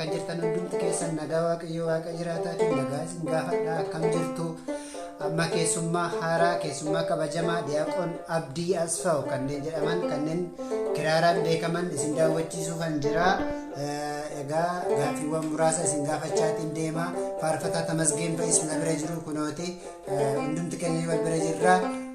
Bakka jirtan hundumti keessan nagaa waaqayyoo waaqa jiraataatiin nagaa isin gaafadha akkam jirtu amma keessummaa haaraa keessummaa kabajamaa diyaaqoon abdii asfaaw kanneen jedhaman kanneen kiraaraan beekaman isin daawwachiisuu kan jira egaa gaaffiiwwan muraasa isin gaafachaatiin deema faarfataa tamasgeen ba'is na bira jiru kunooti hundumti keenya wal bira jirra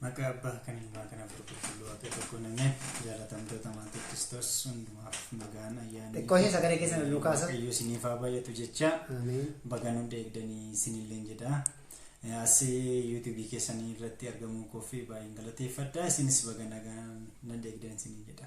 Maqaa Abbaa kan Ilmaa kan Hafuura Qulqulluu Waaqa tokko namee jaalatamtoota maatii Kiristoos hundumaaf nagaan ayyaanni Xiqqoo ishee sagalee keessa nu kaasa. Waaqayyo isiniif haa baay'atu jecha Ameen. baga nu eegdanii isinilleen jedha. Eh, As yuutuubii keessanii irratti argamuu koof baay'een galateeffadha. Isinis baga nagaan na eegdan isiniin jedha.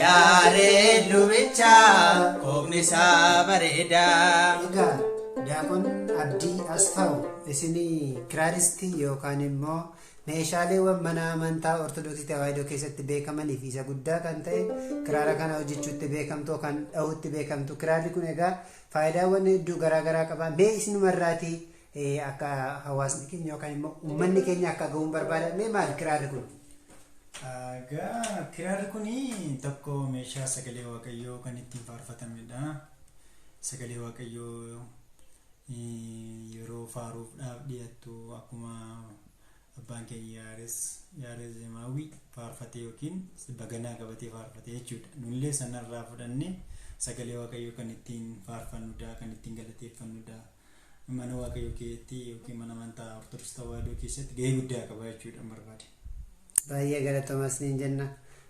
Yaareed lubicha kookni isaa bareedaa. Egaa Daaqon Abdii Asfaaw isin kiraaristii yookaan immoo meeshaaleewwan mana amantaa Ortodoksii Tawaahidoo keessatti beekamanii fi isa guddaa kan ta'e kiraara kana hojjechuutti beekamtu kan dhahuutti beekamtu kiraarri kun egaa faayidaawwan hedduu garaagaraa qaba mee isinumarraatii akka hawaasni keenya yookaan immoo uummanni keenya akka ga'uun barbaadamee maal kiraarri kun? Egaa kiraarri kun tokko meeshaa sagalee waaqayyoo kan ittiin faarfatamedha. Sagalee waaqayyoo yeroo faaruudhaaf dhiyaattu akkuma abbaan keenya yaares yaares zeemaawwii faarfatee yookiin baganaa qabatee faarfatee jechuudha. Nullee sanarraa fudhannee sagalee waaqayyoo kan ittiin faarfannudha kan ittiin galateeffannudha. mana waaqayyoo keessatti yookiin mana amantaa ortodoksii tawaahidoo keessatti gahee guddaa qaba jechuudha barbaade. Baay'ee galatoomaa isiniin jenna.